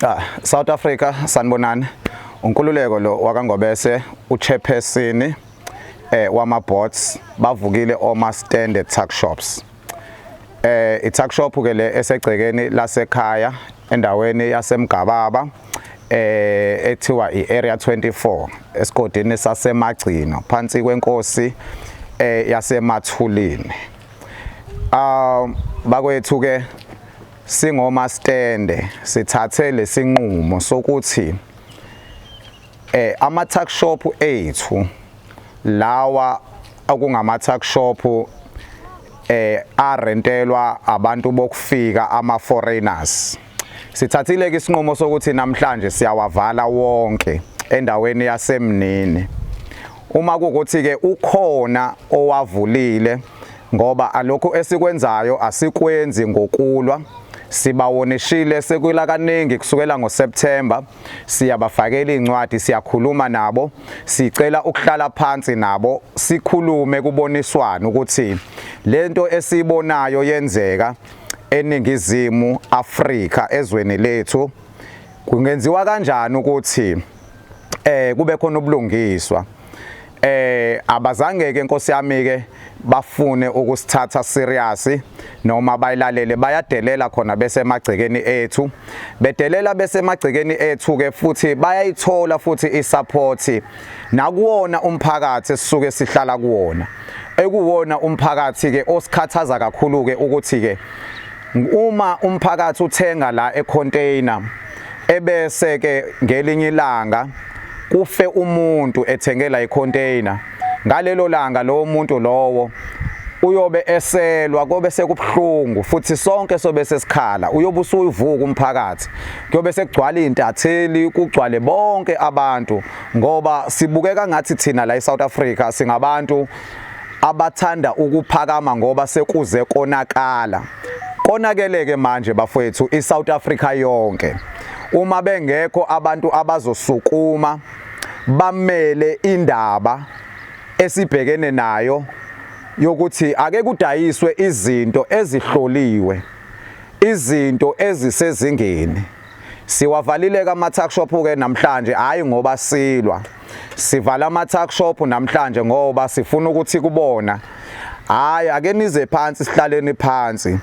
Ah, South Africa sanibonani unkululeko lo wakangobese uchairperson eh wama bots bavukile oma standard tuck shops eh ituck shop ke le esegcekeni lasekhaya endaweni yasemgababa eh ethiwa iArea 24 esigodini sasemagcino phansi kwenkosi eh yasemathulini Um bakwethu ke singoma stende sithathe lesinqumo sokuthi eh ama tuck shop ethu lawa okungama tuck shop eh arentelwa abantu bokufika ama foreigners Sithathile-ke isinqumo sokuthi namhlanje siyawavala wonke endaweni yasemnini. Uma kukuthi-ke ukhona owavulile ngoba alokhu esikwenzayo asikwenzi ngokulwa sibawonishile sekuyila kaningi kusukela ngoSeptember siyabafakela incwadi siyakhuluma nabo sicela ukuhlala phansi nabo sikhulume kuboniswana ukuthi lento esibonayo yenzeka eNingizimu Afrika ezweni lethu kungenziwa kanjani ukuthi eh kube khona ubulungiswa eh abazange ke Nkosi yami ke bafune ukusithatha serious noma bayilalele bayadelela khona bese emagcekeni ethu bedelela bese emagcekeni ethu ke futhi bayayithola futhi isupport nakuwona umphakathi esisuke sihlala kuwona ekuwona umphakathi ke osikhathaza kakhulu ke ukuthi ke uma umphakathi uthenga la econtainer ebese ke ngelinye ilanga kufe umuntu ethengela icontainer ngalelo langa lowo muntu lowo uyobe eselwa kobe sekubuhlungu futhi sonke sobe sesikhala uyobe usuyivuka umphakathi kuyobe sekugcwala izintatheli kugcwale bonke abantu ngoba sibukeka ngathi thina la eSouth Africa singabantu abathanda ukuphakama ngoba sekuze konakala konakeleke manje bafowethu iSouth Africa yonke uma bengekho abantu abazosukuma bamele indaba esibhekene nayo yokuthi ake kudayiswe izinto ezihloliwe Izinto ezisezingeni. Siwavalile-ke ama-tuckshop-ke namhlanje, hhayi ngoba silwa. Sivala ama-tuckshop namhlanje ngoba sifuna ukuthi kubona, hhayi ake nize phansi sihlaleni phansi,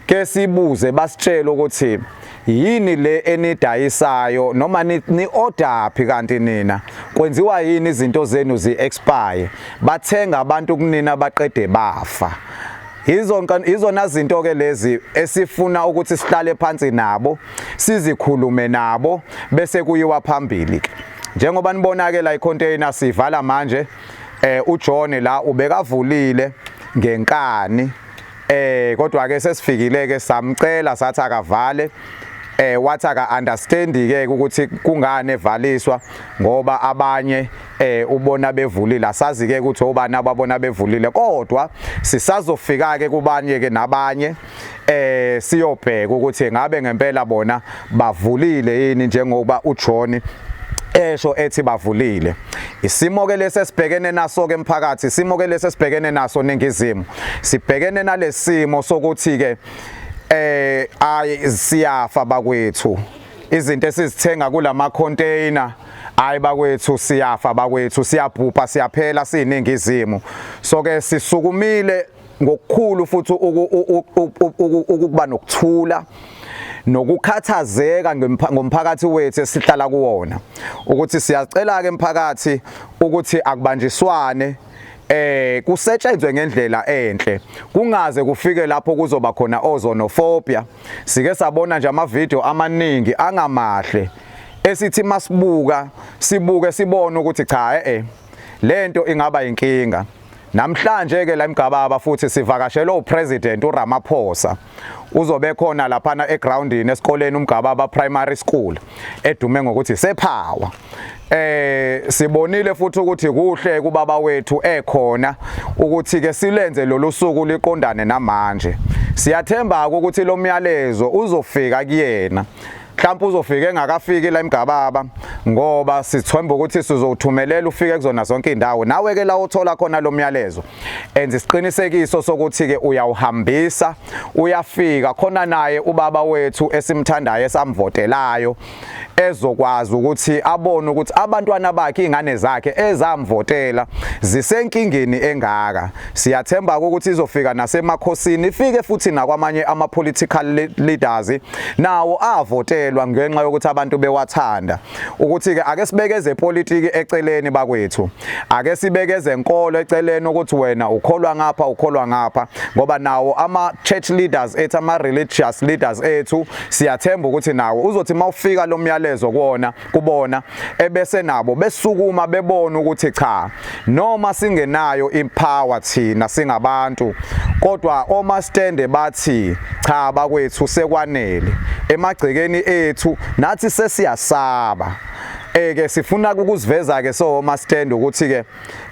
ke sibuze basitshele ukuthi yini le enidayisayo noma ni-odaphi kanti nina kwenziwa yini izinto zenu zi-expire bathenga abantu kunina baqede bafa Yizona zinto-ke lezi esifuna ukuthi sihlale phansi nabo sizikhulume nabo bese kuyiwa phambili ke njengoba nibona-ke la icontainer sivala manje eh uJohn la ubekavulile ngenkani eh kodwa ke sesifikile ke samcela sathi akavale eh wathi aka understand ke ukuthi kungane evaliswa ngoba abanye eh ubona bevulile asazi ke ukuthi obani ababona bevulile kodwa sisazofika ke kubanye ke nabanye eh siyobheka ukuthi ngabe ngempela bona bavulile yini njengoba uJohn esho ethi bavulile isimo ke lesi esibhekene naso ke emphakathi isimo ke lesi esibhekene naso ningizimo sibhekene nalesimo sokuthi ke eh ayi siyafa bakwethu izinto esizithenga kulama container hayi bakwethu siyafa bakwethu siyabhubha siyaphela siyiningizimu so ke sisukumile ngokukhulu futhi ukuba nokuthula nokukhathazeka ngomphakathi wethu esihlala kuwona ukuthi siyacela ke emphakathi ukuthi akubanjiswane eh kusetshenzwe ngendlela enhle kungaze kufike lapho kuzoba khona ozonophobia sike sabona nje ama video amaningi angamahle esithi masibuka sibuke sibone ukuthi cha eh, eh lento ingaba inkinga namhlanje ke la emgababa futhi sivakashelwe upresident uRamaphosa uzobe khona laphana egroundini esikoleni umgababa primary school edume ngokuthi sephawa eh sibonile futhi ukuthi kuhle kubaba wethu ekhona ukuthi ke silenze lolu suku liqondane namanje siyathemba ukuthi lo myalezo uzofika kuyena mhlawumbe uzofika engakafiki la imgababa ngoba sithemba ukuthi sizowuthumelela ufike kuzona zonke indawo nawe ke la uthola khona lo myalezo enza isiqinisekiso sokuthi ke uyawuhambisa uyafika khona naye ubaba wethu esimthandayo esamvotelayo ezokwazi ukuthi abone ukuthi abantwana bakhe ingane zakhe ezamvotela zisenkingeni engaka Siyathemba ukuthi izofika nasemakhosini ifike futhi nakwamanye ama political leaders nawo avotelwa ngenxa yokuthi abantu bewathanda ukuthi ke ake sibekeze politiki eceleni bakwethu ake sibekeze enkolo eceleni ukuthi wena ukholwa ngapha ukholwa ngapha ngoba nawo ama church leaders ethu ama religious leaders ethu siyathemba ukuthi nawo uzothi mawufika lo myalezo kuona kubona ebese nabo besukuma bebona ukuthi cha noma singenayo ipower thina singabantu kodwa oma stand bathi cha bakwethu sekwanele emagcekeni ethu nathi sesiyasaba eke sifuna ukuziveza ke so oma stand ukuthi ke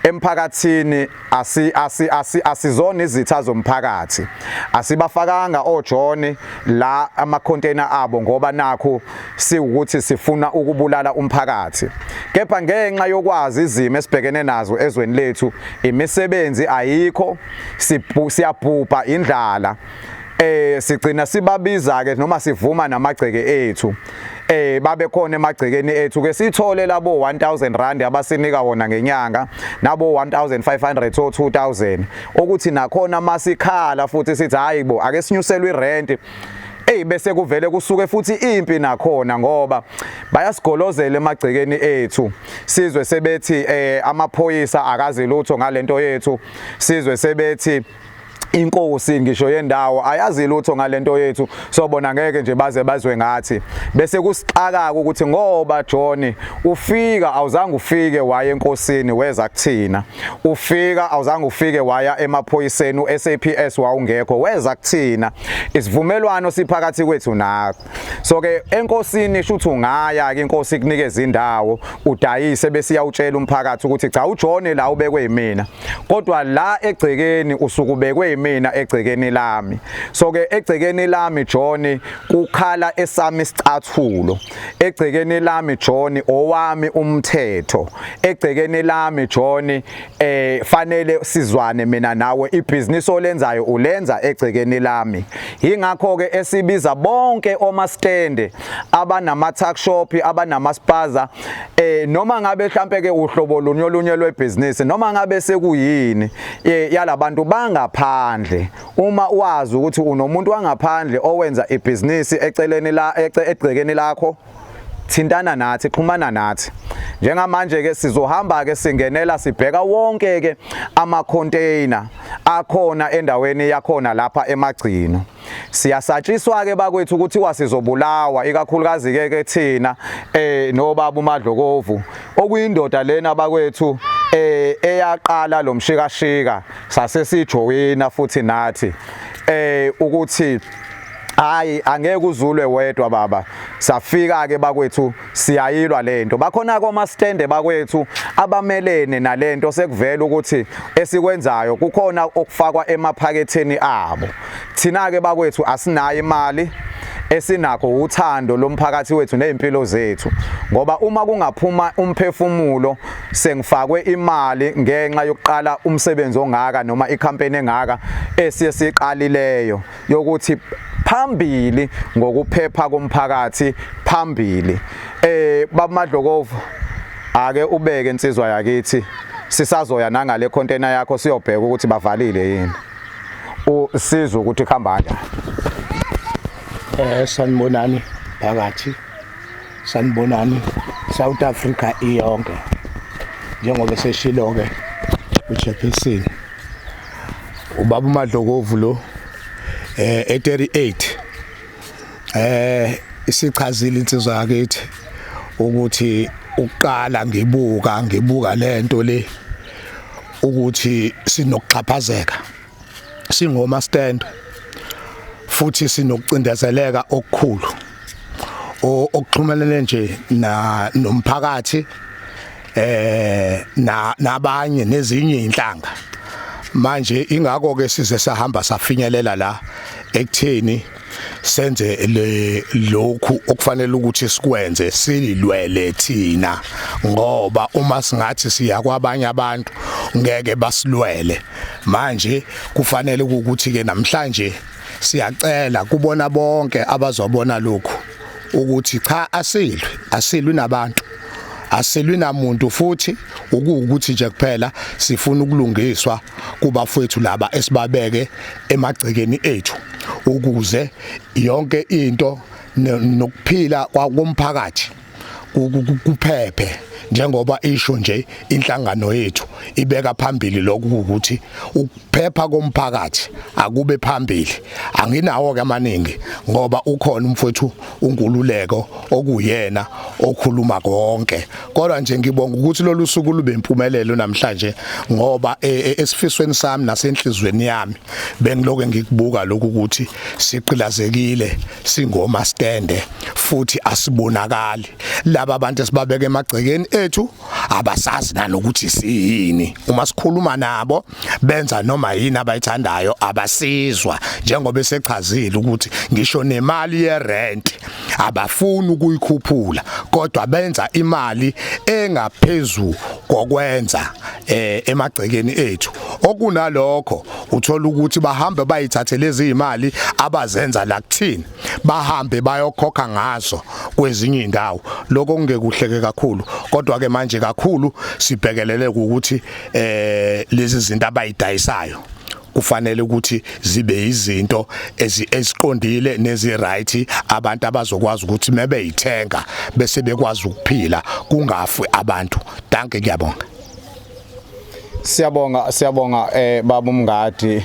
emphakathini asi asi asi asizona izitha zomphakathi asibafakanga ojoni la ama container abo ngoba nakho siwukuthi sifuna ukubulala umphakathi kepha ngenxa yokwazi izimo esibhekene nazo ezweni lethu imisebenzi ayikho siyabhubha indlala eh sigcina sibabiza ke noma sivuma namagceke ethu eh babe khona emagcekeni ethu ke sithole labo 1000 rand abasinika wona ngenyanga nabo 1500 to 2000 ukuthi nakhona masikhala futhi sithi hayibo ake sinyuselwe irent eyi bese kuvele kusuke futhi impi nakhona ngoba bayasigolozela emagcekeni ethu sizwe sebethi eh amaphoyisa akazi lutho ngalento yethu sizwe sebethi inkosi ngisho yendawo ayazi lutho ngalento yethu sobona ngeke nje baze bazwe ngathi bese kusixaka ukuthi ngoba John ufika awuzange ufike waye enkosini weza kuthina ufika awuzange ufike waya emaphoyiseni uSAPS wawungekho weza kuthina isivumelwano siphakathi kwethu nakho so ke enkosini shuthi ungaya ke inkosi ikunikeza indawo udayise bese iyawutshela umphakathi ukuthi cha ujone la ubekwe yimina kodwa la egcekeni usukubekwe yimina egcekeni lami so ke egcekeni lami John kukhala esami isicathulo egcekeni lami John owami umthetho egcekeni lami John eh fanele sizwane mina nawe ibhizinisi olenzayo ulenza egcekeni lami ingakho ke esibiza bonke oma stand abanama tuck shop abanama spaza eh noma ngabe mhlambe ke uhlobo lunye olunye lwebhizinisi noma ngabe sekuyini eh, yalabantu bangaphandle uma wazi ukuthi unomuntu wangaphandle owenza ibhizinisi eceleni la egcekeni lakho thintana nathi xhumana nathi njengamanje ke sizohamba ke singenela sibheka wonke ke ama container akhona endaweni yakhona lapha emagcino siyasatshiswa ke bakwethu ukuthi wasizobulawa ikakhulukazi ke ke thina eh nobaba uMadlokovu okuyindoda lena bakwethu eh eyaqala lomshikashika sase sijoyina futhi nathi eh ukuthi hayi angeke uzulwe wedwa baba safika ke bakwethu siyayilwa lento bakhona koma stand bakwethu abamelene nalento sekuvela ukuthi esikwenzayo kukhona okufakwa emaphaketheni abo thina ke bakwethu asinayo imali esinakho uthando lomphakathi wethu nezimpilo zethu ngoba uma kungaphuma umphefumulo sengifakwe imali ngenxa yokuqala umsebenzi ongaka noma ikhampeni engaka esiye siqalileyo yokuthi phambili ngokuphepha komphakathi phambili eh babumadlokovu ake ubeke insizwa yakithi sisazoya nangale container yakho siyobheka ukuthi bavalile yini usiza ukuthi khamba kanjani eh sanibonani phakathi sanibonani South Africa iyonke njengoba seshilo ke uJefferson ubaba uMadlokovu lo eh e38 eh isichazile insizwa yakithi ukuthi uqala ngibuka ngibuka lento le ukuthi sinokuxhaphazeka singoma stand futhi sinokucindezeleka okukhulu okuxhumelene nje na nomphakathi eh na nabanye nezinye inhlanga manje ingakho ke size sahamba safinyelela la ekutheni senze le lokhu okufanele ukuthi sikwenze sililwele thina ngoba uma singathi siya kwabanye abantu ngeke basilwele manje kufanele ukuthi ke namhlanje siyacela kubona bonke abazobona lokhu ukuthi cha asilwi asilwi nabantu asilwi namuntu futhi ukuwukuthi nje kuphela sifuna ukulungiswa kubafowethu laba esibabeke emagcekeni ethu ukuze yonke into nokuphila kwakomphakathi kuphephe njengoba isho nje inhlangano yethu ibeka phambili lokhu ukuthi ukuphepha komphakathi akube phambili anginawo ke amaningi ngoba ukhona umfowethu unkululeko okuyena okhuluma konke kodwa nje ngibonga ukuthi lolu suku lube impumelelo namhlanje ngoba e, e, esifisweni sami nasenhlizweni yami bengiloke ngikubuka lokhu ukuthi siqilazekile singoma stande futhi asibonakali laba abantu esibabeka emagcekeni ethu abasazi nanokuthi siyini uma sikhuluma nabo benza noma yini abayithandayo abasizwa njengoba esechazile ukuthi ngisho nemali yerent abafuni ukuyikhuphula kodwa benza imali engaphezulu kokwenza eh emagcekeni ethu okunalokho uthola ukuthi bahambe bayithathe lezi imali abazenza la kuthina bahambe bayokhokha ngazo kwezinye indawo lokho kungekuhleke kakhulu kodwa ke manje kakhulu sibhekelele ukuthi eh lezi zinto abayidayisayo kufanele ukuthi zibe izinto eziqondile neziright abantu abazokwazi ukuthi mebe yithenga bese bekwazi ukuphila kungafi abantu danke ngiyabonga siyabonga siyabonga eh baba umngadi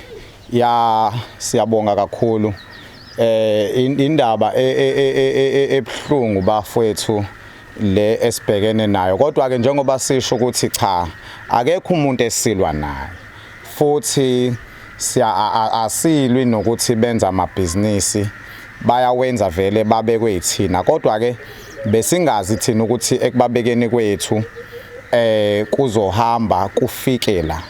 Ya siyabonga kakhulu. Eh indaba e, e, e, ebhlungu bafwethu le esibhekene nayo kodwa ke njengoba sisho ukuthi cha akekho umuntu esilwa naye futhi siya asilwi nokuthi benza amabhizinisi bayawenza vele babekwe yithina kodwa ke besingazi thina ukuthi ekubabekeni kwethu eh kuzohamba kufikela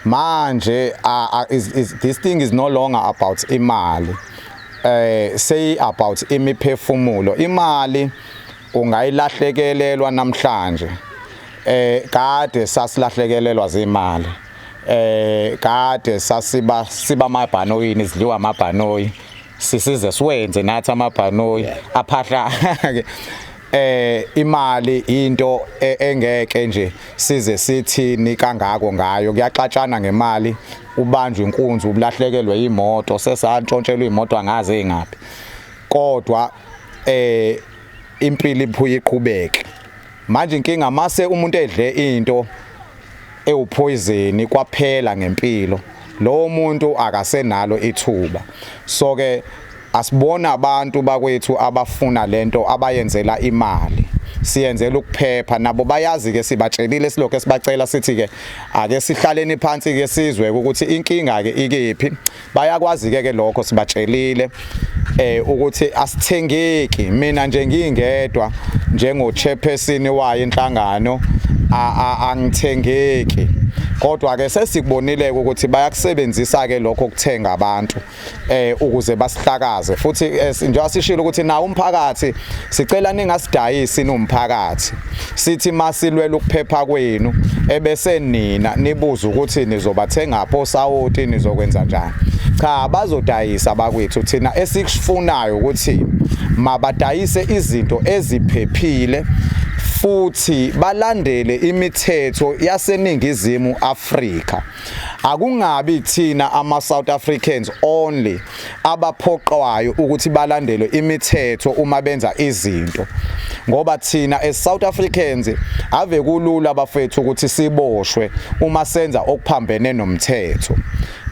manje uh, uh, is, is, this thing is no longer about imali eh say about imiphefumulo imali ungayilahlekelelwa namhlanje eh kade sasilahlekelelwa zimali eh kade sasiba siba mabhanoyini sidliwa mabhanoyi sisize siwenze nathi amabhanoyi aphahlake eh imali into e, engeke nje size sithini kangako ngayo kuyaxatshana ngemali ubanjwe inkunzi ubulahlekelwe imoto sesantshontshelwa imoto angaze ingaphi kodwa eh impilo iphuye iqhubeke Manje inkinga mase umuntu edle into ewuphoyizeni kwaphela ngempilo lowo muntu akasenalo ithuba so ke asibona abantu bakwethu abafuna lento abayenzela imali siyenzela ukuphepha nabo bayazi ke sibatshelile silokho esibacela sithi ke ake sihlaleni phansi ke sizwe ukuthi inkinga ke ikephi bayakwazi ke ke lokho sibatshelile eh ukuthi asithengeki mina nje ngingedwa njengo chairperson wayo inhlangano angithengeki kodwa ke sesikubonile ukuthi bayakusebenzisa ke lokho kuthenga abantu eh ukuze basihlakaze futhi eh, njengoba sishilo ukuthi nawo umphakathi sicela ningasidayisi nomphakathi sithi masilwela ukuphepha kwenu ebese nina nibuza ukuthi nizobathenga pho sawoti nizokwenza njani cha bazodayisa bakwethu thina esikufunayo ukuthi mabadayise izinto eziphephile futhi balandele imithetho yaseningizimu Afrika akungabi thina ama South Africans only abaphoqwayo ukuthi balandele imithetho uma benza izinto ngoba thina as South Africans ave kulula bafethu ukuthi siboshwe uma senza okuphambene nomthetho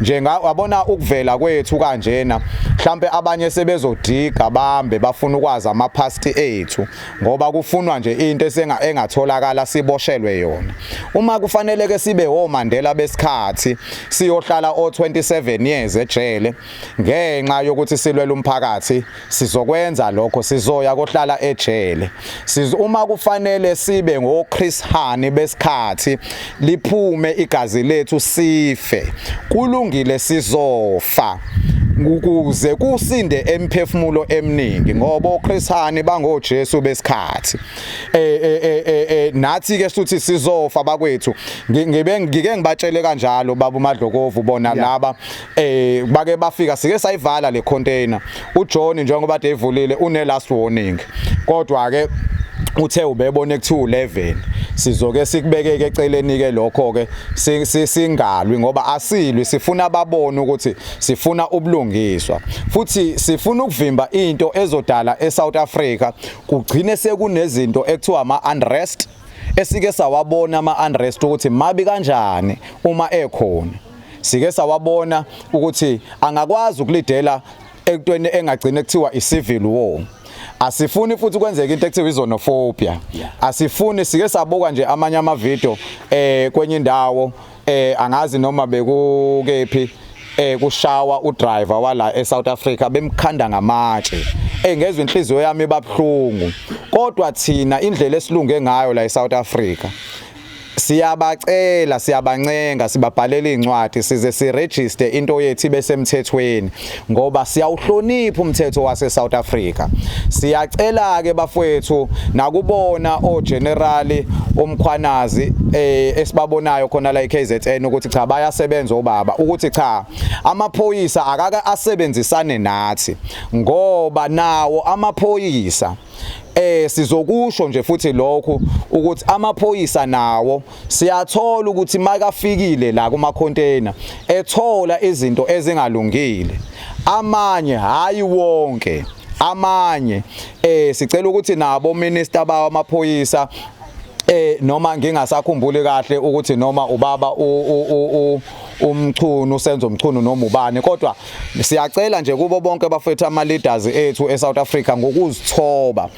njenga wabona ukuvela kwethu kanjena mhlambe abanye sebezodiga bambe bafuna ukwazi ama past ethu ngoba kufunwa nje into esenga engatholakala siboshelwe yona uma kufanele ke sibe woMandela besikhathi siyohlala o27 years ejele ngenxa yokuthi silwela umphakathi sizokwenza lokho sizoya kohlala ejele uma kufanele sibe ngoChris Hani besikhathi liphume igazi lethu sife kulungile sizofa ukuze kusinde emphefumulo eminingi ngoba oKhrisani bangoJesu besikhathi eh eh eh, eh, eh nathi ke suthi sizofa bakwethu ngibe ngike ngibatshele kanjalo baba uMadlokovu bona laba eh bake bafika sike sayivala le container uJohn njengoba devulile une last warning kodwa ke uthe ubebone kuthiwa u11 sizoke sikubekeke eceleni ke lokho ke singalwi ngoba asilwi sifuna ababone ukuthi sifuna ubulungiswa futhi sifuna ukuvimba into ezodala eSouth Africa kugcine sekunezinto ekuthiwa ama unrest esike sawabona ama unrest ukuthi mabi kanjani uma ekhona sike sawabona ukuthi angakwazi ukulidela ekutweni engagcina kuthiwa i-civil war asifuni futhi kwenzeka into ekuthiwa izonophobia asifuni sike sabuka nje amanye amavidiyo eh kwenye indawo eh angazi noma bekukephi eh kushawa udriver wala eSouth Africa bemkhanda ngamatshe engezwe eh, inhliziyo yami babhlungu kodwa thina indlela esilunge ngayo la eSouth Africa Siyabacela, siyabancenga, sibabhalela izincwadi size siregister into yethu ibe semthethweni ngoba siyawuhlonipha umthetho wase South Africa. Siyacela ke bafwethu nakubona o general umkhwanazi eh esibabonayo khona la eKZN ukuthi cha bayasebenza obaba ukuthi cha amaphoyisa akaka asebenzisane nathi ngoba nawo amaphoyisa eh sizokusho nje futhi lokho ukuthi amaphoyisa nawo siyathola ukuthi makafikile la kuma container ethola izinto ezingalungile amanye hayi wonke amanye eh sicela ukuthi nabo minister bawo amaphoyisa eh noma ngingasakhumbuli kahle ukuthi noma ubaba u umchunu senzo mchunu noma ubani kodwa Siyacela nje kubo bonke bafethu ama leaders ethu eSouth Africa ngokuzithoba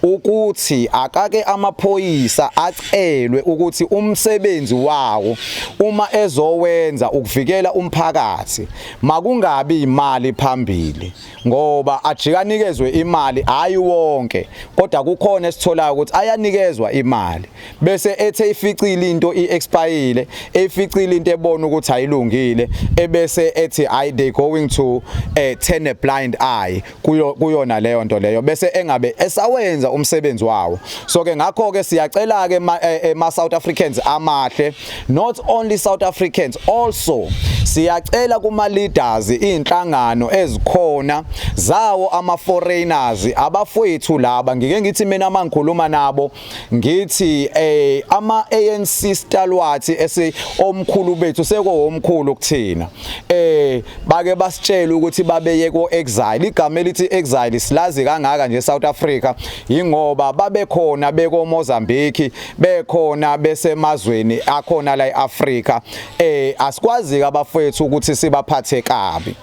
ukuthi akake amaphoyisa acelwe ukuthi umsebenzi wawo uma ezowenza ukuvikela umphakathi makungabi imali phambili ngoba ajikanikezwe imali hayi wonke kodwa kukhona esitholayo ukuthi ayanikezwa imali bese ethe ificile into iexpire eficile into ebona ukuthi ayilungile ebese ethi i they going to uh, turn a blind eye kuyo kuyona leyo nto leyo bese engabe esawenza umsebenzi wawo so ke ngakho ke siyacela ke ma, eh, eh, ma South Africans amahle not only South Africans also siyacela kuma leaders izinhlangano ezikhona zawo ama foreigners abafowethu laba ngike ngithi mina mangikhuluma nabo ngithi eh ama ANC stalwards ese omkhulu bethu seko omkhulu kuthina eh bake basitshela ukuthi babeye ko exile igama elithi exile silazi kangaka nje South Africa ingoba babekhona beko Mozambique bekhona besemazweni akhona la eAfrica eh asikwazi ke abafethu ukuthi sibaphathe kabi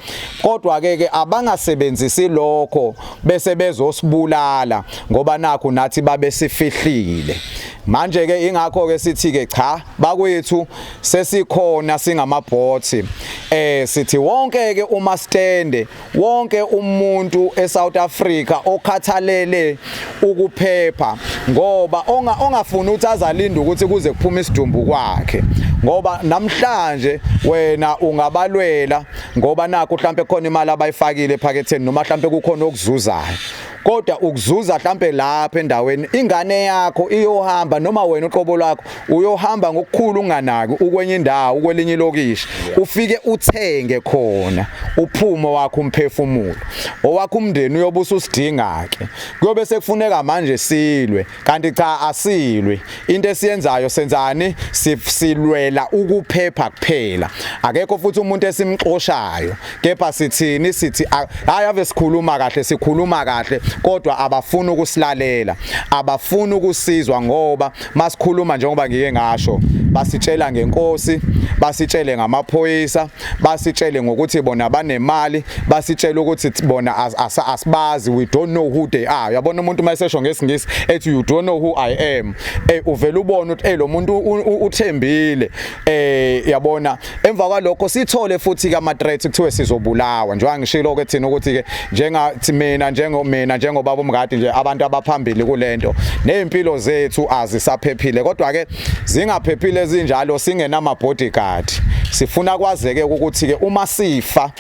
kodwa ke ke abangasebenzisi lokho bese bezosibulala ngoba nakho nathi babe sifihlile manje ke ingakho ke sithi ke cha bakwethu sesikhona singamabhothi eh sithi wonke ke uma stande wonke umuntu eSouth Africa okhathalele ukuphepha ngoba onga ongafuni ukuthi azalinde ukuthi kuze kuphume isidumbu kwakhe ngoba namhlanje wena ungabalwela ngoba nakho mhlambe khona imali abayifakile ephaketheni noma mhlambe kukhona okuzuzayo kodwa ukuzuza mhlambe lapha endaweni ingane yakho iyohamba noma wena uqobo lwakho uyohamba ngokukhulu unganaki ukwenye indawo ukwelinye ilokishi ufike uthenge khona uphumo wakho umphefumulo owakho umndeni uyobusa usidinga ke kuyobe sekufuneka manje silwe Kanti cha asilwi into esiyenzayo senzani silwela ukuphepha kuphela akekho futhi umuntu esimxoshayo kepha sithini sithi hayi ave sikhuluma kahle sikhuluma kahle kodwa abafuni ukusilalela abafuni ukusizwa ngoba masikhuluma njengoba ngike ngasho basitshela ngenkosi basitshele ngamaphoyisa basitshele ngokuthi bona banemali basitshele ukuthi bona asibazi we don't know who they are yabona umuntu mayesesho ngesingisi ethi you don't know who i am eh uvela ubona ukuthi eh lo muntu uthembile eh yabona emva kwalokho sithole futhi ka matret kuthiwe sizobulawa njengoba ngishilo ke thina ukuthi ke njenga mina njengomina njengobaba umngadi nje abantu abaphambili kulento nezimpilo zethu azisaphephile kodwa ke zingaphephile ezinjalo singenama bodyguard sifuna kwazeke ukuthi ke uma sifa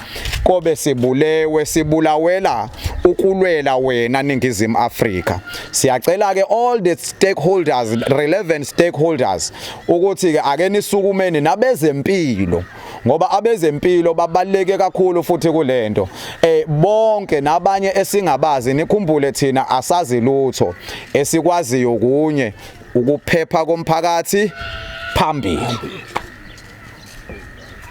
kobe sibulewe sibulawela ukulwela wena ningizimu Afrika siyacela ke all the stakeholders relevant stakeholders ukuthi ke ake nisukumeni nabezempilo ngoba abezempilo babaleke kakhulu futhi kulento eh bonke nabanye esingabazi nikhumbule thina asazi lutho esikwaziyo kunye ukuphepha komphakathi phambili.